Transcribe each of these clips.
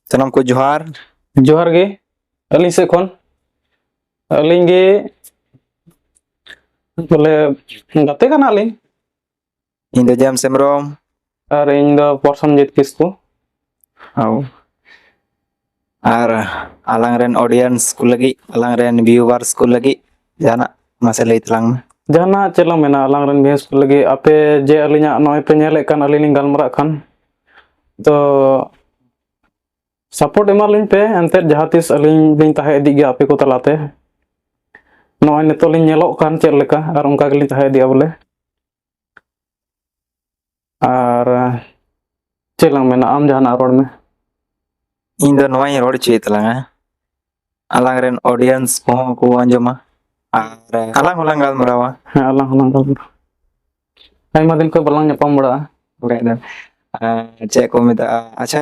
ᱥᱟᱱᱟᱢ ᱠᱚ ᱡᱚᱦᱟᱨ ᱡᱚᱦᱟᱨ ᱜᱮ ᱟᱹᱞᱤᱧ ᱥᱮᱫ ᱠᱷᱚᱱ ᱟᱹᱞᱤᱧ ᱜᱮ ᱵᱚᱞᱮ ᱜᱟᱛᱮ ᱠᱟᱱᱟᱞᱤᱧ ᱤᱧ ᱫᱚ ᱡᱮᱢᱥ ᱦᱮᱢᱵᱨᱚᱢ ᱟᱨ ᱤᱧ ᱫᱚ ᱯᱨᱚᱥᱚᱱᱡᱤᱛ ᱠᱤᱥᱠᱩ ᱦᱟᱣ ᱟᱨ ᱟᱞᱟᱝ ᱨᱮᱱ ᱚᱰᱤᱭᱮᱱᱥ ᱠᱚ ᱞᱟᱹᱜᱤᱫ ᱟᱞᱟᱝ ᱨᱮᱱ ᱵᱷᱤᱭᱩᱣᱟᱨᱥ ᱠᱚ ᱞᱟᱹᱜᱤᱫ ᱡᱟᱦᱟᱱᱟᱜ ᱢᱟᱥᱮ ᱞᱟᱹᱭ ᱛᱟᱞᱟᱝ ᱢᱮ ᱡᱟᱦᱟᱱᱟᱜ ᱪᱮᱫ ᱞᱟᱝ ᱢᱮᱱᱟ ᱟᱞᱟᱝ ᱨᱮᱱ ᱵᱷᱤᱭᱩᱣᱟᱨᱥ ᱠᱚ ᱞᱟᱹᱜᱤᱫ ᱟᱯᱮ ᱡᱮ ᱟᱹᱞᱤᱧᱟᱜ ᱱᱚᱜᱼᱚᱭ ᱯᱮ ᱧᱮᱞᱮᱫ ᱠᱟᱱ ᱟᱹᱞᱤᱧ ᱞᱤᱧ ᱜᱟᱞᱢᱟᱨᱟᱜ ᱠᱟᱱ ᱛᱚ ᱥᱟᱯᱳᱨᱴ ᱮᱢᱟᱞᱤᱧ ᱯᱮ ᱮᱱᱛᱮᱫ ᱡᱟᱦᱟᱸ ᱛᱤᱥ ᱟᱹᱞᱤᱧ ᱞᱤᱧ ᱛᱟᱦᱮᱸ ᱤᱫᱤᱜ ᱜᱮᱭᱟ ᱟᱯᱮ ᱠᱚ ᱛᱟᱞᱟᱛᱮ ᱱᱚᱜᱼᱚᱭ ᱱᱤᱛᱚᱜ ᱞᱤᱧ ᱧᱮᱞᱚᱜ ᱠᱟᱱ ᱪᱮᱫ ᱞᱮᱠᱟ ᱟᱨ ᱚᱱᱠᱟ ᱜᱮᱞᱤᱧ ᱛᱟᱦᱮᱸ ᱤᱫᱤᱜᱼᱟ ᱵᱚᱞᱮ ᱟᱨ ᱪᱮᱫ ᱞᱟᱝ ᱢᱮᱱᱟ ᱟᱢ ᱡᱟᱦᱟᱱᱟᱜ ᱨᱚᱲ ᱢᱮ ᱤᱧ ᱫᱚ ᱱᱚᱣᱟᱧ ᱨᱚᱲ ᱦᱚᱪᱚᱭᱮᱫ ᱛᱟᱞᱟᱝᱟ ᱟᱞᱟᱝ ᱨᱮᱱ ᱚᱰᱤᱭᱮᱱᱥ ᱠᱚᱦᱚᱸ ᱠᱚ ᱟᱸᱡᱚᱢᱟ ᱟᱨ ᱟᱞᱟᱝ ᱦᱚᱸᱞᱟᱝ ᱜᱟᱞᱢᱟᱨᱟᱣᱟ ᱦᱮᱸ ᱟᱞᱟᱝ ᱦᱚᱸᱞᱟᱝ ᱜᱟᱞᱢᱟᱨᱟᱣᱟ ᱟᱭᱢᱟ ᱫᱤᱱ ᱠᱷᱚᱱ ᱵᱟᱞᱟᱝ ᱧᱟᱯᱟᱢ ᱵᱟᱲᱟᱜᱼᱟ ᱵᱟᱠᱷᱟᱡ ᱫᱚ ᱪᱮᱫ ᱠᱚ ᱢᱮᱛᱟᱜᱼᱟ ᱟᱪᱪᱷᱟ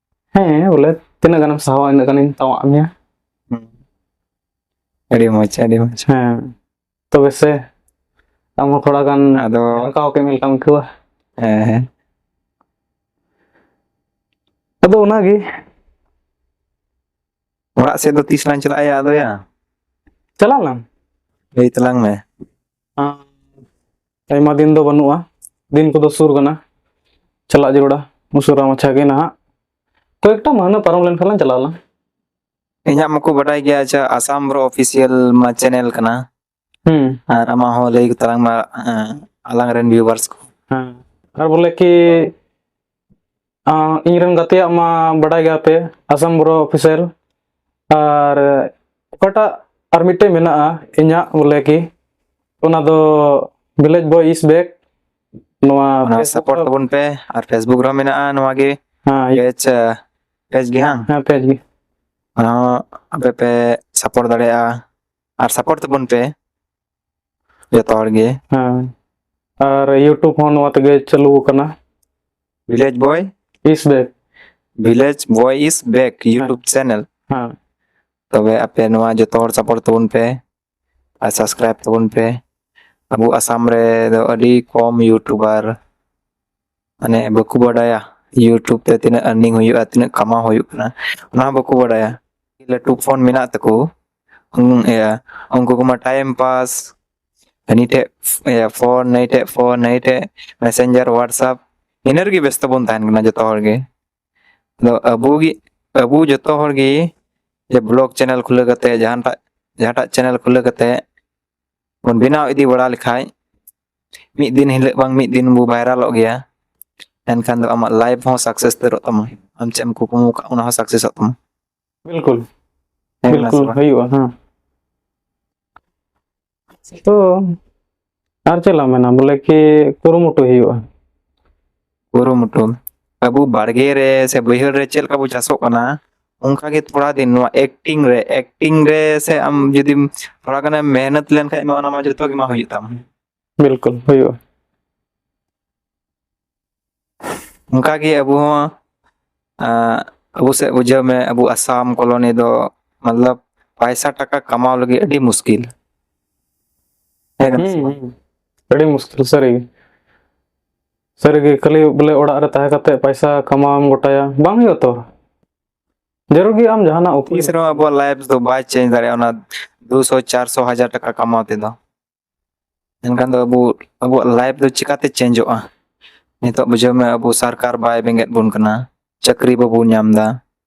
ᱦᱮᱸ ᱵᱚᱞᱮ ᱛᱤᱱᱟᱹᱜ ᱜᱟᱱᱮᱢ ᱥᱟᱦᱟᱣᱟ ᱤᱱᱟᱹᱜ ᱜᱟᱱᱤᱧ ᱛᱟᱣᱟᱜ ᱢᱮᱭᱟ ᱟᱹᱰᱤ ᱢᱚᱡᱽ ᱟᱹᱰᱤ ᱢᱚᱡᱽ ᱦᱮᱸ ᱛᱚᱵᱮ ᱥᱮ ᱟᱢ ᱦᱚᱸ ᱛᱷᱚᱲᱟ ᱜᱟᱱ ᱟᱫᱚ ᱚᱱᱠᱟ ᱠᱮ ᱢᱮ ᱞᱮᱠᱟᱢ ᱟᱹᱭᱠᱟᱹᱣᱟ ᱦᱮᱸ ᱦᱮᱸ ᱟᱫᱚ ᱚᱱᱟᱜᱮ ᱚᱲᱟᱜ ᱥᱮᱫ ᱫᱚ ᱛᱤᱥ ᱞᱟᱝ ᱪᱟᱞᱟᱜᱼᱟ ᱟᱫᱚᱭᱟ ᱪᱟᱞᱟᱜ ᱟᱞᱟᱝ ᱞᱟᱹᱭ ᱛᱟᱞᱟᱝ ᱢᱮ ᱟᱭᱢᱟ ᱫᱤᱱ ᱫᱚ ᱵᱟᱹᱱᱩᱜᱼᱟ ᱫᱤᱱ ᱠᱚᱫᱚ ᱥᱩᱨ ᱠᱟᱱᱟ ᱪᱟᱞᱟᱜ ᱡᱟᱹᱨᱩᱲᱟ ᱩᱥᱟᱹᱨᱟ ᱢᱟᱪᱷᱟ ᱜᱮ ᱱᱟᱦᱟᱜ ᱠᱚᱭᱮᱠᱴᱟ ᱢᱟᱹᱦᱱᱟᱹ ᱯᱟᱨᱚᱢ ᱞᱮᱱᱠᱷᱟᱱ ᱞᱟᱝ ᱪᱟᱞᱟᱜ ᱟᱞᱟᱝ ᱤᱧᱟᱹᱜ ᱢᱟᱠᱚ ᱵᱟᱰᱟᱭ ᱜᱮᱭᱟ ᱟᱪᱪᱷᱟ ᱟᱥᱟᱢ ᱵᱨᱚ ᱚᱯᱷᱤᱥᱤᱭᱟᱞ ᱢᱟ ᱪᱮᱱᱮᱞ ᱠᱟᱱᱟ ᱦᱩᱸ ᱟᱨ ᱟᱢᱟᱜ ᱦᱚᱸ ᱞᱟᱹᱭ ᱛᱟᱞᱟᱝ ᱢᱟ ᱟᱞᱟᱝ ᱨᱮᱱ ᱵᱷᱤᱣᱟᱨᱥ ᱠᱚ ᱦᱮᱸ ᱟᱨ ᱵᱚᱞᱮ ᱠᱤ ᱤᱧ ᱨᱮᱱ ᱜᱟᱛᱮᱭᱟᱜ ᱢᱟ ᱵᱟᱰᱟᱭ ᱜᱮᱭᱟ ᱯᱮ ᱟᱥᱟᱢ ᱵᱨᱚ ᱚᱯᱷᱤᱥᱟᱨ ᱟᱨ ᱚᱠᱟᱴᱟᱜ ᱟᱨ ᱢᱤᱫᱴᱮᱡ ᱢᱮᱱᱟᱜᱼᱟ ᱤᱧᱟᱹᱜ ᱵᱚᱞᱮ ᱠᱤ ᱚᱱᱟ ᱫᱚ ᱵᱷᱤᱞᱮᱡᱽ ᱵᱚᱭ ᱤᱥ ᱵᱮᱠ ᱱᱚᱣᱟ ᱥᱟᱯᱳᱨᱴ ᱛᱟᱵᱚᱱ ᱯᱮ ᱟᱨ ᱯᱷᱮᱥᱵᱩᱠ ᱨᱮ ᱢᱮᱱᱟᱜᱼᱟ ᱱᱚᱣᱟ ᱜᱮ ᱯᱮᱡᱽ ᱯᱮᱡᱽ ᱜᱮ ᱦᱟᱝ ᱦᱮᱸ ᱯᱮᱡᱽ ᱜᱮ ᱚᱱᱟ ᱟᱯᱮ ᱯᱮ ᱥᱟᱯᱳᱨᱴ ᱫᱟᱲᱮᱭᱟᱜᱼᱟ ᱟᱨ ᱥᱟᱯᱳᱨᱴ ᱛᱟᱵᱚᱱ ᱯᱮ ᱡᱚᱛᱚ ᱦᱚᱲ ᱜᱮ ᱦᱮᱸ ᱟᱨ ᱤᱭᱩᱴᱩᱵᱽ ᱦᱚᱸ ᱱᱚᱣᱟ ᱛᱮᱜᱮ ᱪᱟᱹᱞᱩ ᱟᱠᱟᱱᱟ ᱵᱷᱤᱞᱮᱡᱽ boy is back village boy is back YouTube channel ᱦᱮᱸ ᱛᱚᱵᱮ ᱟᱯᱮ ᱱᱚᱣᱟ ᱡᱚᱛᱚ ᱦᱚᱲ ᱥᱟᱯᱳᱨᱴ ᱛᱟᱵᱚᱱ ᱯᱮ ᱟᱨ ᱥᱟᱵᱥᱠᱨᱟᱭᱤᱵ ᱛᱟᱵᱚᱱ ᱯᱮ ᱟᱵᱚ ᱟᱥᱟᱢ ᱨᱮ ᱫᱚ ᱟᱹᱰᱤ ᱠᱚᱢ ᱤᱭᱩᱴᱩᱵᱟᱨ ᱢᱟᱱᱮ ᱵᱟᱠᱚ ᱵᱟᱰᱟᱭᱟ ᱤᱭᱩᱴᱩᱵᱽ ᱛᱮ ᱛᱤᱱᱟᱹᱜ ᱟᱨᱱᱤᱝ ᱦᱩᱭᱩᱜᱼᱟ ᱛᱤᱱᱟᱹᱜ ᱠᱟᱢᱟᱣ ᱦᱩᱭᱩᱜ ᱠᱟᱱᱟ ᱚᱱᱟ ᱦᱚᱸ ᱵᱟᱠᱚ ᱵᱟᱰᱟᱭᱟ ᱞᱟᱹᱴᱩ ᱯᱷᱳᱱ ᱢᱮᱱᱟᱜ ᱛᱟᱠᱚ ᱤᱭᱟᱹ ᱩᱱᱠᱩ ᱠᱚᱢᱟ ᱴᱟᱭᱤᱢ ᱯᱟᱥ ᱦᱟᱹᱱᱤ ᱴᱷᱮᱡ ᱤᱭᱟᱹ ᱯᱷᱳᱱ ᱱᱟᱹᱭ ᱴᱷᱮᱡ ᱯᱷᱳᱱ ᱱᱟᱹᱭ ᱴᱷᱮᱡ ᱢᱮᱥᱮᱧᱡᱟᱨ ᱦᱳᱣᱟᱴᱥᱟᱯ ᱤᱱᱟᱹ ᱨᱮᱜᱮ ᱵᱮᱥᱛᱚ ᱵᱚᱱ ᱛᱟᱦᱮᱱ ᱠᱟᱱᱟ ᱡᱚᱛᱚ ᱦᱚᱲ ᱜᱮ ᱟᱫᱚ ᱟᱵᱚ ᱜᱮ ᱟᱵᱚ ᱡᱚᱛᱚ ᱦᱚᱲ ᱜᱮ ᱡᱮ ᱵᱞᱚᱜ ᱪᱮᱱᱮᱞ ᱠᱷᱩᱞᱟᱹᱣ ᱠᱟᱛᱮ ᱡᱟᱦᱟᱸᱴᱟᱜ ᱡᱟᱦᱟᱸᱴᱟᱜ ᱪᱮᱱᱮᱞ ᱠᱷᱩᱞᱟᱹᱣ ᱠᱟᱛᱮ ᱵᱚᱱ ᱵᱮᱱᱟᱣ ᱤᱫᱤ ᱵᱟᱲᱟ ᱞᱮᱠᱷᱟᱡ ᱢᱤᱫ ᱫᱤᱱ ᱦᱤᱞᱳᱜ ᱵᱟᱝ ᱢᱤᱫ ᱫᱤᱱ ᱵᱚ ᱵᱷᱟᱭᱨᱟᱞᱚᱜ ᱜᱮᱭᱟ ᱮᱱᱠᱷᱟᱱ ᱫᱚ ᱟᱢᱟᱜ ᱞᱟᱭᱤᱯᱷ ᱦᱚᱸ ᱥᱟᱠᱥᱮᱥ ᱩᱛᱟᱹᱨᱚᱜ ᱛᱟᱢᱟ ᱟᱢ ᱪᱮᱫ ᱮᱢ ᱠᱩᱠᱢᱩ ᱠᱟᱜ ᱚᱱᱟ ᱦᱚᱸ ᱥᱟᱠᱥᱮᱥᱚᱜ ᱛᱟᱢᱟ ᱵᱤᱞᱠᱩᱞ ᱦᱮᱸ ᱠᱟᱱᱟ ᱥᱮ ᱵᱤᱞᱠᱩᱞ ᱵᱟᱝ? ᱦᱩᱭᱩᱜᱼᱟ ᱦᱮᱸ ᱛᱚ ᱟᱨ ᱪᱮᱫ ᱞᱟᱝ ᱢᱮᱱᱟ ᱵᱚᱞᱮ ᱠᱤ ᱠᱩᱨᱩᱢᱩᱴᱩ ᱦᱩᱭᱩᱜᱼᱟ ᱠᱩᱨᱩᱢᱩᱴᱩ ᱟᱵᱚ ᱵᱟᱲᱜᱮ ᱨᱮ ᱥᱮ ᱵᱟᱹᱭᱦᱟᱹᱲ ᱨᱮ ᱪᱮᱫ ᱞᱮᱠᱟ ᱵᱚ ᱪᱟᱥᱚᱜ ᱠᱟᱱᱟ ᱚᱱᱠᱟ ᱜᱮ ᱛᱷᱚᱲᱟ ᱫᱤᱱ ᱱᱚᱣᱟ ᱮᱠᱴᱤᱝ ᱨᱮ ᱮᱠᱴᱤᱝ ᱨᱮ ᱥᱮ ᱟᱢ ᱡᱩᱫᱤᱢ ᱛᱷᱚᱲᱟ ᱜᱟᱱᱮᱢ ᱢᱮᱦᱱᱚᱛ ᱞᱮᱱᱠᱷᱟᱡ ᱢᱟ ᱚᱱᱟ ᱢᱟ ᱡᱚᱛᱚ ᱜᱮ ᱢᱟ ᱦᱩᱭᱩᱜ ᱛᱟᱢ ᱵᱤᱞᱠᱩᱞ ᱦᱩᱭᱩᱜᱼᱟ ᱚᱱᱠᱟ ᱜᱮ ᱟᱵᱚ ᱦᱚᱸ ᱟᱸ, ᱟᱵᱚ ᱥᱮᱫ ᱵᱩᱡᱷᱟᱹᱣ ᱢᱮ ᱟᱵᱚ ᱟᱥᱟᱢ ᱠᱚᱞᱚᱱᱤ ᱫᱚ ᱢᱚᱛᱞᱚᱵ ᱯᱟᱭᱥᱟ ᱴᱟᱠᱟ ᱠᱟᱢᱟᱣ ᱞᱟᱹᱜᱤᱫ ᱟᱹᱰᱤ ᱢᱩᱥᱠᱤᱞ ᱦᱮᱸ ᱠᱟᱱᱟ ᱥᱮ ᱵᱟᱝ? ᱟᱹᱰᱤ ᱢᱩᱥᱠᱤᱞ ᱥᱟᱹᱨᱤ ᱜᱮ ᱥᱟᱹᱨᱤᱜᱮ ᱠᱷᱟᱹᱞᱤ ᱵᱚᱞᱮ ᱚᱲᱟᱜ ᱨᱮ ᱛᱟᱦᱮᱸ ᱠᱟᱛᱮ ᱯᱟᱭᱥᱟ ᱠᱟᱢᱟᱣᱮᱢ ᱜᱚᱴᱟᱭᱟ ᱵᱟᱝ ᱦᱩᱭᱩᱜᱼᱟ ᱛᱚ ᱡᱟᱹᱨᱩᱲ ᱜᱮ ᱟᱢ ᱡᱟᱦᱟᱱᱟᱜ ᱩᱯᱟᱹᱭ ᱛᱤᱥ ᱨᱮᱦᱚᱸ ᱟᱵᱚᱣᱟᱜ ᱞᱟᱭᱤᱯᱷ ᱫᱚ ᱵᱟᱭ ᱪᱮᱧᱡᱽ ᱫᱟᱲᱮᱭᱟᱜᱼᱟ ᱚᱱᱟ ᱫᱩ ᱥᱚ ᱪᱟᱨ ᱥᱚ ᱦᱟᱡᱟᱨ ᱴᱟᱠᱟ ᱠᱟᱢᱟᱣ ᱛᱮᱫᱚ ᱮᱱᱠᱷᱟᱱ ᱫᱚ ᱟᱵᱚ ᱟᱵᱚᱣᱟᱜ ᱞᱟᱭᱤᱯᱷ ᱫᱚ ᱪᱤᱠᱟᱛᱮ ᱪᱮᱧᱡᱚᱜᱼᱟ ᱱᱤᱛᱚᱜ ᱵᱩᱡᱷᱟᱹᱣ ᱢᱮ ᱟᱵᱚ ᱥᱚᱨᱠᱟᱨ ᱵᱟᱭ ᱵᱮᱸᱜᱮᱫ ᱵᱚᱱ ᱠᱟᱱᱟ ᱪᱟᱹᱠᱨᱤ ᱵᱟᱵᱚᱱ ᱧᱟᱢ ᱮᱫᱟ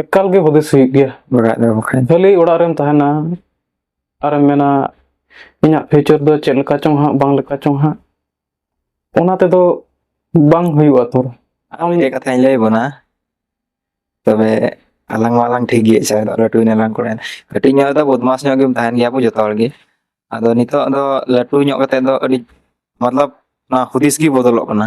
ᱮᱠᱟᱞ ᱜᱮ ᱦᱩᱫᱤᱥ ᱦᱩᱭᱩᱜ ᱜᱮᱭᱟ ᱚᱲᱟᱜ ᱨᱮ ᱵᱟᱠᱷᱟᱱ ᱠᱷᱟᱹᱞᱤ ᱚᱲᱟᱜ ᱨᱮᱢ ᱛᱟᱦᱮᱱᱟ ᱟᱨᱮᱢ ᱢᱮᱱᱟ ᱤᱧᱟᱹᱜ ᱯᱷᱤᱭᱩᱪᱟᱨ ᱫᱚ ᱪᱮᱫ ᱞᱮᱠᱟ ᱪᱚᱝ ᱦᱟᱸᱜ ᱵᱟᱝ ᱞᱮᱠᱟ ᱪᱚᱝ ᱦᱟᱸᱜ ᱚᱱᱟ ᱛᱮᱫᱚ ᱵᱟᱝ ᱦᱩᱭᱩᱜᱼᱟ ᱛᱚ ᱟᱨ ᱢᱤᱫᱴᱮᱡ ᱠᱟᱛᱷᱟᱧ ᱞᱟᱹᱭ ᱵᱚᱱᱟ ᱛᱚᱵᱮ ᱟᱞᱟᱝ ᱢᱟ ᱟᱞᱟᱝ ᱴᱷᱤᱠ ᱜᱮᱭᱟ ᱪᱟᱭ ᱞᱟᱹᱴᱩᱭ ᱱᱟᱞᱟᱝ ᱠᱚᱲᱟ ᱠᱟᱹᱴᱤᱡ ᱧᱚᱜ ᱨᱮᱫᱚ ᱵᱚᱫᱢᱟᱥ ᱧᱚᱜ ᱜᱮᱢ ᱛᱟᱦᱮᱱ ᱜᱮᱭᱟ ᱵᱚ ᱡᱚᱛᱚ ᱦᱚᱲ ᱜᱮ ᱟᱫᱚ ᱱᱤᱛᱚᱜ ᱫᱚ ᱞᱟᱹᱴᱩ ᱧᱚᱜ ᱠᱟᱛᱮ ᱫᱚ ᱟᱹᱰᱤ ᱢᱚᱛᱞᱚᱵ ᱚᱱᱟ ᱦᱩᱫᱤᱥ ᱜᱮ ᱵᱚᱫᱚᱞᱚᱜ ᱠᱟᱱᱟ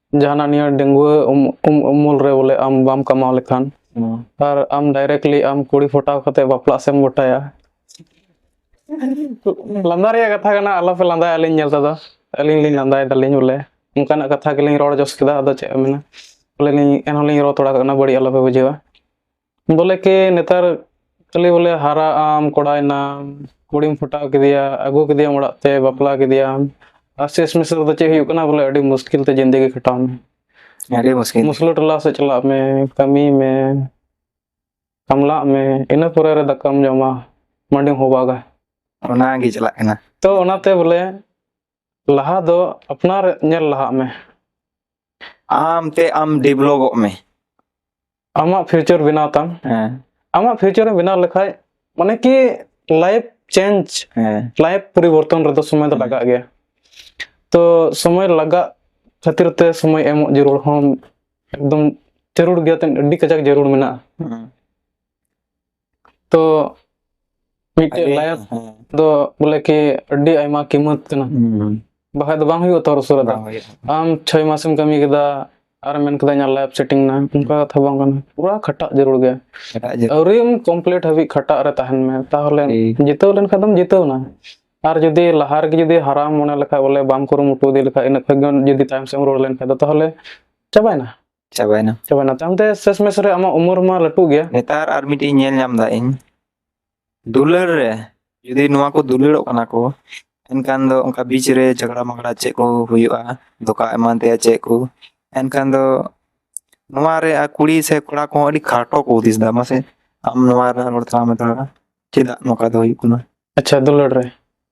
ᱡᱟᱦᱟᱱᱟᱜ ᱱᱤᱭᱟᱹ ᱰᱟᱺᱜᱩᱣᱟᱹ ᱩᱢᱩᱞ ᱨᱮ ᱵᱚᱞᱮ ᱟᱢ ᱵᱟᱢ ᱠᱟᱢᱟᱣ ᱞᱮᱠᱷᱟᱱ ᱟᱨ ᱟᱢ ᱰᱟᱭᱨᱮᱠᱴᱞᱤ ᱟᱢ ᱠᱩᱲᱤ ᱯᱷᱚᱴᱟᱣ ᱠᱟᱛᱮ ᱵᱟᱯᱞᱟᱜ ᱥᱮᱢ ᱜᱚᱴᱟᱭᱟ ᱞᱟᱸᱫᱟ ᱨᱮᱭᱟᱜ ᱠᱟᱛᱷᱟ ᱠᱟᱱᱟ ᱟᱞᱚᱯᱮ ᱞᱟᱸᱫᱟᱭᱟ ᱟᱹᱞᱤᱧ ᱧᱮᱞ ᱛᱮᱫᱚ ᱟᱹᱞᱤᱧ ᱞᱤᱧ ᱞᱟᱸᱫᱟᱭ ᱫᱟᱞᱤᱧ ᱵᱚᱞᱮ ᱚᱱᱠᱟᱱᱟᱜ ᱠᱟᱛᱷᱟ ᱜᱮᱞᱤᱧ ᱨᱚᱲ ᱡᱚᱥ ᱠᱮᱫᱟ ᱟᱫᱚ ᱪᱮᱫ ᱮᱢ ᱢᱮᱱᱟ ᱵᱚᱞᱮ ᱞᱤᱧ ᱮᱱᱦᱚᱸ ᱞᱤᱧ ᱨᱚᱲ ᱛᱷᱚᱲᱟ ᱠᱟᱜ ᱠᱟᱱᱟ ᱵᱟᱹᱲᱤᱡ ᱟᱞᱚᱯᱮ ᱵᱩᱡᱷᱟᱹᱣᱟ ᱵᱚᱞᱮ ᱠᱮ ᱱᱮᱛᱟᱨ ᱠᱷᱟᱹᱞᱤ ᱵᱚᱞᱮ ᱦᱟᱨᱟ ᱟᱢ ᱠᱚᱲᱟᱭᱱᱟᱢ ᱠᱩᱲᱤᱢ ᱯᱷᱚᱴᱟᱣ ᱠᱮᱫᱮᱭᱟ ᱟᱹᱜᱩ ᱠᱮᱫᱮᱭᱟᱢ ᱚᱲᱟᱜ ᱛᱮ ᱵᱟᱯᱞᱟ ᱠᱮᱫᱮᱭᱟᱢ ᱟᱨ ᱥᱮᱥ ᱢᱮᱥ ᱨᱮᱫᱚ ᱪᱮᱫ ᱦᱩᱭᱩᱜ ᱠᱟᱱᱟ ᱵᱚᱞᱮ ᱟᱹᱰᱤ ᱢᱩᱥᱠᱤᱞ ᱛᱮ ᱡᱤᱱᱫᱮᱜᱤ ᱠᱷᱟᱴᱟᱣ ᱢᱮ ᱟᱹᱰᱤ ᱢᱩᱥᱠᱤᱞ ᱢᱩᱥᱞᱟᱹ ᱴᱚᱞᱟ ᱥᱮᱫ ᱪᱟᱞᱟᱜ ᱢᱮ ᱠᱟᱹᱢᱤ ᱢᱮ ᱠᱟᱢᱞᱟᱜ ᱢᱮ ᱤᱱᱟᱹ ᱯᱚᱨᱮ ᱨᱮ ᱫᱟᱠᱟᱢ ᱡᱚᱢᱟ ᱢᱟᱹᱰᱤᱢ ᱦᱚᱵᱟᱜᱟ ᱚᱱᱟᱜᱮ ᱪᱟᱞᱟᱜ ᱠᱟᱱᱟ ᱛᱚ ᱚᱱᱟᱛᱮ ᱵᱚᱞᱮ ᱞᱟᱦᱟ ᱫᱚ ᱟᱯᱱᱟᱨ ᱧᱮᱞ ᱞᱟᱦᱟᱜ ᱢᱮ ᱟᱢ ᱛᱮ ᱟᱢ ᱰᱮᱵᱷᱞᱚᱯᱚᱜ ᱢᱮ ᱟᱢᱟᱜ ᱯᱷᱤᱭᱩᱪᱟᱨ ᱵᱮᱱᱟᱣ ᱛᱟᱢ ᱦᱮᱸ ᱟᱢᱟᱜ ᱯᱷᱤᱭᱩᱪᱟᱨ ᱮᱢ ᱵᱮᱱᱟᱣ ᱞᱮᱠᱷᱟᱡ ᱢᱟᱱᱮ ᱠᱤ ᱞᱟᱭᱤᱯ ᱪᱮᱧᱡᱽ ᱦᱮᱸ ᱞᱟᱭᱤᱯ ᱯᱚᱨᱤᱵᱚᱨᱛᱚᱱ ᱨᱮᱫᱚ ᱥᱚᱢᱚᱭ ᱫᱚ ᱞᱟᱜᱟᱜ ᱜᱮᱭᱟ ᱛᱚ ᱥᱚᱢᱚᱭ ᱞᱟᱜᱟᱜ ᱠᱷᱟᱹᱛᱤᱨ ᱛᱮ ᱥᱚᱢᱚᱭ ᱮᱢᱚᱜ ᱡᱟᱹᱨᱩᱲ ᱦᱚᱸ ᱮᱠᱫᱚᱢ ᱡᱟᱹᱨᱩᱲ ᱜᱮᱭᱟ ᱛᱮ ᱟᱹᱰᱤ ᱠᱟᱡᱟᱠ ᱡᱟᱹᱨᱩᱲ ᱢᱮᱱᱟᱜᱼᱟ ᱦᱮᱸ ᱛᱚ ᱢᱤᱫᱴᱮᱡ ᱞᱟᱭᱟᱛ ᱫᱚ ᱵᱚᱞᱮ ᱠᱤ ᱟᱹᱰᱤ ᱟᱭᱢᱟ ᱠᱤᱢᱚᱛ ᱠᱟᱱᱟ ᱵᱟᱠᱷᱟᱡ ᱫᱚ ᱵᱟᱝ ᱦᱩᱭᱩᱜᱼᱟ ᱛᱚ ᱩᱥᱟᱹᱨᱟ ᱫᱚ ᱟᱢ ᱪᱷᱚᱭ ᱢᱟᱥᱮᱢ ᱠᱟᱹᱢᱤ ᱠᱮᱫᱟ ᱟᱨ ᱢᱮᱱ ᱠᱮᱫᱟ ᱤᱧᱟᱹᱜ ᱞᱟᱭᱤᱯ ᱥᱮᱴᱤᱝ ᱱᱟ ᱚᱱᱠᱟ ᱠᱟᱛᱷᱟ ᱵᱟᱝ ᱠᱟᱱᱟ ᱯᱩᱨᱟ ᱠᱷᱟᱴᱟᱜ ᱡᱟᱹᱨᱩᱲ ᱜᱮ ᱟᱹᱣᱨᱤᱢ ᱠᱚᱢᱯᱞᱤᱴ ᱦᱟᱹᱵᱤᱡ ᱠᱷᱟᱴᱟᱜ ᱨᱮ ᱛᱟᱦᱮᱱ ᱢᱮ ᱛᱟᱦᱚᱞᱮ ᱡᱤᱛᱟᱹᱣ ᱞᱮᱱᱠᱷᱟᱱ ᱫᱚᱢ ᱡᱤᱛᱟᱹᱣ ᱱᱟ ᱟᱨ ᱡᱩᱫᱤ ᱞᱟᱦᱟ ᱨᱮᱜᱮ ᱡᱩᱫᱤ ᱦᱟᱨᱟᱢ ᱢᱚᱱᱮ ᱞᱮᱠᱷᱟᱡ ᱵᱚᱞᱮ ᱵᱟᱢ ᱠᱩᱨᱩᱢᱩᱴᱩ ᱤᱫᱤ ᱞᱮᱠᱷᱟᱡ ᱤᱱᱟᱹ ᱠᱷᱚᱡ ᱡᱩᱫᱤ ᱛᱟᱭᱚᱢ ᱥᱮᱫ ᱮᱢ ᱨᱩᱣᱟᱹᱲ ᱞᱮᱱᱠᱷᱟᱡ ᱫᱚ ᱛᱟᱦᱚᱞᱮ ᱪᱟᱵᱟᱭᱮᱱᱟ ᱪᱟᱵᱟᱭᱱᱟ ᱪᱟᱵᱟᱭᱱᱟ ᱛᱟᱭᱚᱢ ᱛᱮ ᱥᱮᱥ ᱢᱮᱥ ᱨᱮ ᱟᱢᱟᱜ ᱩᱢᱩᱨ ᱢᱟ ᱞᱟᱹᱴᱩ ᱜᱮᱭᱟ ᱱᱮᱛᱟᱨ ᱟᱨ ᱢᱤᱫᱴᱤᱡ ᱧᱮᱞ ᱧᱟᱢ ᱫᱟ ᱤᱧ ᱫᱩᱞᱟᱹᱲ ᱨᱮ ᱡᱩᱫᱤ ᱱᱚᱣᱟ ᱠᱚ ᱫᱩᱞᱟᱹᱲᱚᱜ ᱠᱟᱱᱟ ᱠᱚ ᱮᱱᱠᱷᱟᱱ ᱫᱚ ᱚᱱᱠᱟ ᱵᱤᱪ ᱨᱮ ᱡᱷᱚᱜᱽᱲᱟ ᱢᱟᱜᱽᱲᱟ ᱪᱮᱫ ᱠᱚ ᱦᱩᱭᱩᱜᱼᱟ ᱫᱚᱠᱟ ᱮᱢᱟᱱ ᱛᱮᱭᱟᱜ ᱪᱮᱫ ᱠᱚ ᱮᱱᱠᱷᱟᱱ ᱫᱚ ᱱᱚᱣᱟ ᱨᱮ ᱟᱨ ᱠᱩᱲᱤ ᱥᱮ ᱠᱚᱲᱟ ᱠᱚᱦᱚᱸ ᱟᱹᱰᱤ ᱠᱷᱟᱴᱚ ᱠᱚ ᱦᱩᱫᱤᱥ ᱫᱟ ᱢᱟᱥᱮ ᱟᱢ ᱱᱚᱣᱟ ᱨᱮ ᱨᱚᱲ ᱛᱟᱞᱟᱝ ᱢᱮ ᱛᱷᱚᱲᱟ ᱪᱮᱫᱟᱜ ᱱᱚᱝᱠᱟ ᱫᱚ ᱦᱩᱭᱩᱜ ᱠᱟᱱᱟ ᱟᱪᱪᱷᱟ ᱫᱩᱞᱟᱹᱲ ᱨᱮ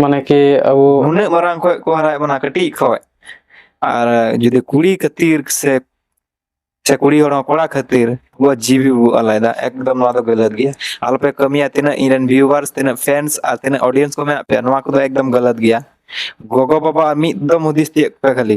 ᱢᱟᱱᱮ ᱠᱤ ᱟᱵᱚ ᱱᱩᱱᱟᱹᱜ ᱢᱟᱨᱟᱝ ᱠᱷᱚᱡ ᱠᱚ ᱦᱟᱨᱟᱭᱮᱫ ᱵᱚᱱᱟ ᱠᱟᱹᱴᱤᱡ ᱠᱷᱚᱡ ᱟᱨ ᱡᱩᱫᱤ ᱠᱩᱲᱤ ᱠᱷᱟᱹᱛᱤᱨ ᱥᱮ ᱥᱮ ᱠᱩᱲᱤ ᱦᱚᱲ ᱦᱚᱸ ᱠᱚᱲᱟ ᱠᱷᱟᱹᱛᱤᱨ ᱵᱚ ᱡᱤᱣᱤ ᱵᱚ ᱟᱞᱟᱭᱫᱟ ᱮᱠᱫᱚᱢ ᱱᱚᱣᱟ ᱫᱚ ᱜᱟᱹᱞᱟᱹᱛ ᱜᱮᱭᱟ ᱟᱞᱚᱯᱮ ᱠᱟᱹᱢᱤᱭᱟ ᱛᱤᱱᱟᱹᱜ ᱤᱧ ᱨᱮᱱ ᱵᱷᱤᱭᱩᱣᱟᱨᱥ ᱛᱤᱱᱟᱹᱜ ᱯᱷᱮᱱᱥ ᱟᱨ ᱛᱤᱱᱟᱹᱜ ᱚᱰᱤᱭᱮᱱᱥ ᱠᱚ ᱢᱮᱱᱟᱜ ᱯᱮᱭᱟ ᱱᱚᱣᱟ ᱠᱚᱫᱚ ᱮᱠᱫᱚᱢ ᱜᱟᱹᱞᱟᱹᱛ ᱜᱮᱭᱟ ᱜᱚᱜᱚ ᱵᱟᱵᱟ ᱢᱤᱫ ᱫᱚᱢ ᱦᱩᱫᱤᱥ ᱛᱤᱭᱳᱜ ᱯᱮ ᱠᱷᱟᱹᱞᱤ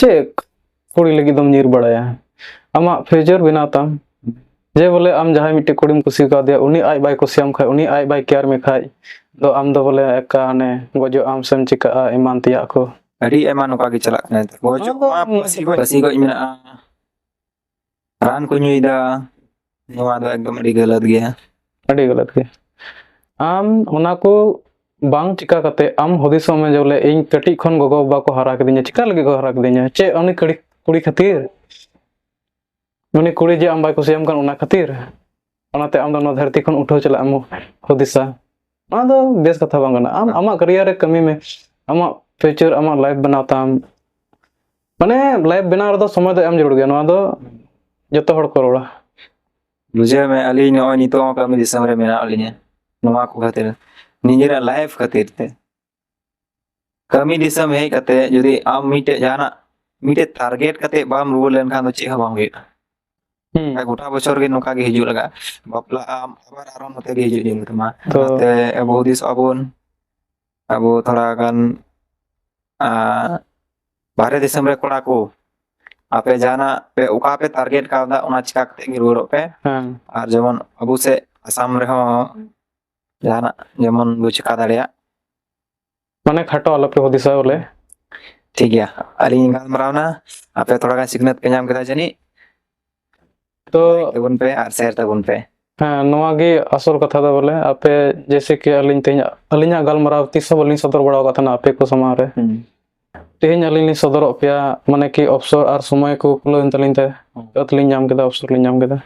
ᱪᱮᱫ ᱠᱩᱲᱤ ᱞᱟᱹᱜᱤᱫ ᱫᱚᱢ ᱧᱤᱨ ᱵᱟᱲᱟᱭᱟ ᱟᱢᱟᱜ ᱯᱷᱤᱭᱩᱪᱟᱨ ᱵᱮᱱᱟᱣ ᱛᱟᱢ ᱡᱮ ᱵᱚᱞᱮ ᱟᱢ ᱡᱟᱦᱟᱸᱭ ᱢᱤᱫᱴᱮᱡ ᱠᱩᱲᱤᱢ ᱠᱩᱥᱤ ᱠᱟᱣᱫᱮᱭᱟ ᱩᱱᱤ ᱟᱡ ᱵᱟᱭ ᱠᱩᱥᱤᱭᱟᱢ ᱠᱷᱟᱡ ᱩᱱᱤ ᱟᱡ ᱵᱟᱭ ᱠᱮᱭᱟᱨ ᱢᱮ ᱠᱷᱟᱡ ᱫᱚ ᱟᱢ ᱫᱚ ᱵᱚᱞᱮ ᱮᱠᱟ ᱦᱟᱱᱮ ᱜᱚᱡᱚᱜ ᱟᱢ ᱥᱮᱢ ᱪᱤᱠᱟᱹᱜᱼᱟ ᱮᱢᱟᱱ ᱛᱮᱭᱟᱜ ᱠᱚ ᱟᱹᱰᱤ ᱟᱭᱢᱟ ᱱᱚᱝᱠᱟ ᱜᱮ ᱪᱟᱞᱟᱜ ᱠᱟᱱᱟ ᱜᱚᱡᱚᱜ ᱢᱟ ᱯᱟᱹᱥᱤ ᱜᱚᱡ ᱯᱟᱹᱥᱤ ᱜᱚᱡ ᱢᱮᱱᱟᱜᱼᱟ ᱨᱟᱱ ᱠᱚ ᱧᱩᱭᱮᱫᱟ ᱱᱚᱣᱟ ᱫᱚ ᱮᱠᱫᱚᱢ ᱟᱹᱰᱤ ᱜᱟᱹᱞᱟᱹᱛ ᱜᱮᱭᱟ ᱟᱹᱰᱤ ᱜᱟᱹᱞᱟᱹᱛ ᱜᱮᱭᱟ ᱟᱢ ᱚᱱᱟ ᱠᱚ ᱵᱟᱝ ᱪᱤᱠᱟ ᱠᱟᱛᱮ ᱟᱢ ᱦᱩᱫᱤᱥᱚᱜ ᱢᱮ ᱡᱮ ᱵᱚᱞᱮ ᱤᱧ ᱠᱟᱹᱴᱤᱡ ᱠᱷᱚᱱ ᱜᱚᱜᱚ ᱵᱟᱵᱟ ᱠᱚ ᱦᱟᱨᱟ ᱠᱤᱫᱤᱧᱟ ᱪᱤᱠᱟ ᱞᱟᱹᱜᱤᱫ ᱠᱚ ᱦᱟᱨᱟ ᱠᱤᱫᱤᱧᱟ ᱪᱮᱫ ᱩᱱᱤ ᱠᱩᱲᱤ ᱠᱩᱲᱤ ᱠᱷᱟᱹᱛᱤᱨ ᱩᱱᱤ ᱠᱩᱲᱤ ᱡᱮ ᱟᱢ ᱵᱟᱭ ᱠᱩᱥᱤᱭᱟᱢ ᱠᱟᱱ ᱚᱱᱟ ᱠᱷᱟᱹᱛᱤᱨ ᱚᱱᱟᱛᱮ ᱟᱢ ᱫᱚ ᱱᱚᱣᱟ ᱫᱷᱟᱹᱨᱛᱤ ᱠᱷᱚᱱ ᱩᱴᱷᱟᱹᱣ ᱪᱟᱞᱟᱜ ᱮᱢ ᱦᱩᱫᱤᱥᱟ ᱚᱱᱟ ᱫᱚ ᱵᱮᱥ ᱠᱟᱛᱷᱟ ᱵᱟᱝ ᱠᱟᱱᱟ ᱟᱢ ᱟᱢᱟᱜ ᱠᱮᱨᱤᱭᱟᱨ ᱨᱮ ᱠᱟᱹᱢᱤ ᱢᱮ ᱟᱢᱟᱜ ᱯᱷᱤᱭᱩᱪᱟᱨ ᱟᱢᱟᱜ ᱞᱟᱭᱤᱯᱷ ᱵᱮᱱᱟᱣ ᱛᱟᱢ ᱢᱟᱱᱮ ᱞᱟᱭᱤᱯᱷ ᱵᱮᱱᱟᱣ ᱨᱮᱫᱚ ᱥᱚᱢᱚᱭ ᱫᱚ ᱮᱢ ᱡᱟᱹᱨᱩᱲ ᱜᱮᱭᱟ ᱱᱚᱣᱟ ᱫᱚ ᱡᱚᱛᱚ ᱦᱚᱲ ᱠᱚ ᱨᱚᱲᱟ ᱵᱩᱡᱷᱟᱹᱣ ᱢᱮ ᱟᱹᱞᱤᱧ ᱱᱚᱜᱼᱚᱭ ᱱᱤᱛᱚᱜ ᱦᱚᱸ ᱠᱟᱹᱢᱤ ᱫᱤᱥᱚᱢ ᱨᱮ ᱢᱮᱱᱟᱜ ᱞᱤᱧᱟ ᱱᱚᱣᱟ ᱠᱚ ᱠᱷᱟᱹᱛᱤᱨ ᱱᱤᱡᱮᱨᱟᱜ ᱞᱟᱭᱤᱯᱷ ᱠᱷᱟᱹᱛᱤᱨ ᱛᱮ ᱠᱟᱹᱢᱤ ᱫᱤᱥᱚᱢ ᱦᱮᱡ ᱠᱟᱛᱮ ᱡᱩᱫᱤ ᱟᱢ ᱢᱤᱫᱴᱮᱡ ᱡᱟᱦᱟᱱᱟᱜ ᱢᱤᱫᱴᱮᱡ ᱴᱟᱨᱜᱮᱴ ᱠᱟᱛᱮ ᱵᱟᱢ ᱨᱩᱣᱟᱹᱲ ᱞᱮᱱᱠᱷᱟᱱ ᱫᱚ ᱪᱮᱫ ᱦᱚᱸ ᱵᱟᱝ ᱦᱩᱭᱩᱜᱼᱟ ᱦᱩᱸ ᱜᱚᱴᱟ ᱵᱚᱪᱷᱚᱨ ᱜᱮ ᱱᱚᱝᱠᱟ ᱜᱮ ᱦᱤᱡᱩᱜ ᱞᱟᱜᱟᱜᱼᱟ ᱵᱟᱯᱞᱟᱜ ᱟᱢ ᱟᱵᱟᱨ ᱟᱨᱚ ᱱᱚᱛᱮ ᱜᱮ ᱦᱤᱡᱩᱜ ᱡᱟᱹᱨᱩᱲ ᱛᱟᱢᱟ ᱛᱚ ᱚᱱᱟᱛᱮ ᱟᱵᱚ ᱦᱩᱫᱤᱥᱚᱜ ᱟᱵᱚᱱ ᱟᱵᱚ ᱛᱷᱚᱲᱟ ᱜᱟᱱ ᱟᱸ, ᱵᱟᱦᱨᱮ ᱫᱤᱥᱚᱢ ᱨᱮ ᱠᱚᱲᱟ ᱠᱚ ᱟᱯᱮ ᱡᱟᱦᱟᱱᱟᱜ ᱯᱮ ᱚᱠᱟ ᱯᱮ ᱴᱟᱨᱜᱮᱴ ᱠᱟᱣᱫᱟ ᱚᱱᱟ ᱪᱤᱠᱟ ᱠᱟᱛᱮ ᱜᱮ ᱨᱩᱣᱟᱹᱲᱚᱜ ᱯᱮ ᱦᱮᱸ ᱟᱨ ᱡᱮᱢᱚᱱ ᱟᱵᱚ ᱥᱮᱫ ᱟᱥᱟᱢ ᱨᱮᱦᱚᱸ ᱡᱟᱦᱟᱱᱟᱜ ᱡᱮᱢᱚᱱ ᱵᱚ ᱪᱮᱠᱟ ᱫᱟᱲᱮᱭᱟᱜ ᱢᱟᱱᱮ ᱠᱷᱟᱴᱚ ᱟᱞᱚᱯᱮ ᱦᱩᱫᱤᱥᱟ ᱵᱚᱞᱮ ᱴᱷᱤᱠ ᱜᱮᱭᱟ ᱟᱹᱞᱤᱧ ᱜᱟᱞᱢᱟᱨᱟᱣ ᱮᱱᱟ ᱟᱯᱮ ᱛᱷᱚᱲᱟ ᱜᱟᱱ ᱥᱤᱠᱷᱱᱟᱹᱛ ᱯᱮ ᱧᱟᱢ ᱠᱮᱫᱟ ᱡᱟᱹᱱᱤᱡ ᱛᱚ ᱛᱟᱵᱚᱱ ᱯᱮ ᱟᱨ ᱥᱮᱭᱟᱨ ᱛᱟᱵᱚᱱ ᱯᱮ ᱦᱮᱸ ᱱᱚᱣᱟ ᱜᱮ ᱟᱥᱚᱞ ᱠᱟᱛᱷᱟ ᱫᱚ ᱵᱚᱞᱮ ᱟᱯᱮ ᱡᱮᱭᱥᱮ ᱠᱤ ᱟᱹᱞᱤᱧ ᱛᱮᱦᱮᱧ ᱟᱹᱞᱤᱧᱟᱜ ᱜᱟᱞᱢᱟᱨᱟᱣ ᱛᱤᱥ ᱦᱚᱸ ᱵᱟᱹᱞᱤᱧ ᱥᱚᱫᱚᱨ ᱵᱟᱲᱟ ᱟᱠᱟᱫ ᱛᱟᱦᱮᱱᱟ ᱟᱯᱮ ᱠᱚ ᱥᱟᱢᱟᱝ ᱨᱮ ᱛᱮᱦᱮᱧ ᱟᱹᱞᱤᱧ ᱞᱤᱧ ᱥᱚᱫᱚᱨᱚᱜ ᱯᱮᱭᱟ ᱢᱟᱱᱮ ᱠᱤ ᱚᱯᱥᱚᱨ ᱟᱨ ᱥᱚᱢᱚᱭ ᱠᱚ ᱠᱷᱩᱞᱟᱹᱣ ᱮᱱ ᱛᱟᱹᱞᱤᱧ ᱛᱮ ᱟᱹᱛ ᱞᱤᱧ ᱧᱟᱢ ᱠᱮᱫᱟ ᱚᱯᱥᱚᱨ ᱞᱤᱧ ᱧᱟᱢ ᱠᱮᱫᱟ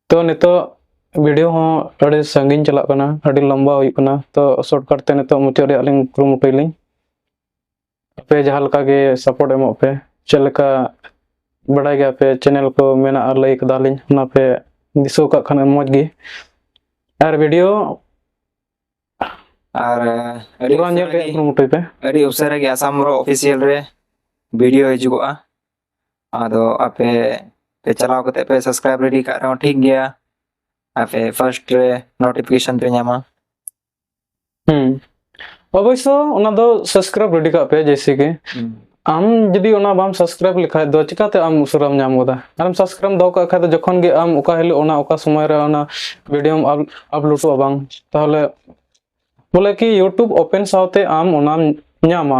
ᱛᱚ ᱱᱤᱛᱚᱜ ᱵᱷᱤᱰᱤᱭᱳ ᱦᱚᱸ ᱟᱹᱰᱤ ᱥᱟᱺᱜᱤᱧ ᱪᱟᱞᱟᱜ ᱠᱟᱱᱟ ᱟᱹᱰᱤ ᱞᱚᱢᱵᱟ ᱦᱩᱭᱩᱜ ᱠᱟᱱᱟ ᱛᱚ ᱥᱚᱨᱴᱠᱟᱴ ᱛᱮ ᱱᱤᱛᱚᱜ ᱢᱩᱪᱟᱹᱫ ᱨᱮᱭᱟᱜ ᱞᱤᱧ ᱠᱩᱨᱩᱢᱩᱴᱩᱭᱟᱞᱤᱧ ᱟᱯᱮ ᱡᱟᱦᱟᱸ ᱞᱮᱠᱟ ᱜᱮ ᱥᱟᱯᱳᱨᱴ ᱮᱢᱚᱜ ᱯᱮ ᱪᱮᱫ ᱞᱮᱠᱟ ᱵᱟᱰᱟᱭ ᱜᱮᱭᱟ ᱯᱮ ᱪᱮᱱᱮᱞ ᱠᱚ ᱢᱮᱱᱟᱜᱼᱟ ᱞᱟᱹᱭ ᱠᱟᱫᱟᱞᱤᱧ ᱚᱱᱟ ᱯᱮ ᱫᱤᱥᱟᱹ ᱠᱟᱜ ᱠᱷᱟᱱ ᱢᱚᱡᱽ ᱜᱮ ᱟᱨ ᱵᱷᱤᱰᱤᱭᱳ ᱟᱨ ᱟᱹᱰᱤ ᱯᱩᱨᱟᱹ ᱧᱮᱞ ᱩᱥᱟᱹᱨᱟ ᱨᱮᱭᱟᱜ ᱜᱮ- ᱠᱩᱨᱩᱢᱩᱴᱩᱭ ᱯᱮ ᱟᱹᱰᱤ ᱩᱥᱟᱹᱨᱟ ᱜᱮ ᱟᱥᱟᱢ ᱨᱚ ᱚᱯᱷᱤᱥᱤᱭᱟᱞ ᱨᱮ ᱵᱷᱤᱰᱤᱭᱳ ᱦᱤᱡᱩᱜᱚᱜᱼᱟ ᱟᱫᱚ ᱟᱯᱮ ᱯᱮ ᱪᱟᱞᱟᱣ ᱠᱟᱛᱮ ᱯᱮ ᱥᱟᱵᱥᱠᱨᱟᱭᱤᱵ ᱨᱮᱰᱤ ᱠᱟᱜ ᱨᱮᱦᱚᱸ ᱴᱷᱤᱠ ᱜᱮᱭᱟ ᱟᱯᱮ ᱯᱷᱟᱨᱥᱴ ᱨᱮ ᱱᱳᱴᱤᱯᱷᱤᱠᱮᱥᱚᱱ ᱯᱮ ᱧᱟᱢᱟ ᱦᱩᱸ ᱚᱵᱚᱥᱥᱚ ᱚᱱᱟ ᱫᱚ ᱥᱟᱵᱥᱠᱨᱟᱭᱤᱵ ᱨᱮᱰᱤ ᱠᱟᱜ ᱯᱮ ᱡᱮᱭᱥᱮ ᱠᱤ ᱟᱢ ᱡᱩᱫᱤ ᱚᱱᱟ ᱵᱟᱢ ᱥᱟᱵᱥᱠᱨᱟᱭᱤᱵ ᱞᱮᱠᱷᱟᱡ ᱫᱚ ᱪᱤᱠᱟᱛᱮ ᱟᱢ ᱩᱥᱟᱹᱨᱟᱢ ᱧᱟᱢ ᱜᱚᱫᱟ ᱟᱨᱮᱢ ᱥᱟᱵᱥᱠᱨᱟᱭᱤᱵ ᱫᱚᱦᱚ ᱠᱟᱜ ᱠᱷᱟᱡ ᱫᱚ ᱡᱚᱠᱷᱚᱱ ᱜᱮ ᱟᱢ ᱚᱠᱟ ᱦᱤᱞᱳᱜ ᱚᱱᱟ ᱚᱠᱟ ᱥᱚᱢᱚᱭ ᱨᱮ ᱚᱱᱟ ᱵᱷᱤᱰᱤᱭᱳᱢ ᱟᱯᱞᱳᱰᱚᱜᱼᱟ ᱵᱟᱝ ᱛᱟᱦᱚᱞᱮ ᱵᱚᱞᱮ ᱠᱤ ᱤᱭᱩᱴᱩᱵ ᱳᱯᱮᱱ ᱥᱟᱶᱛᱮ ᱟᱢ ᱚᱱᱟᱢ ᱧᱟᱢᱟ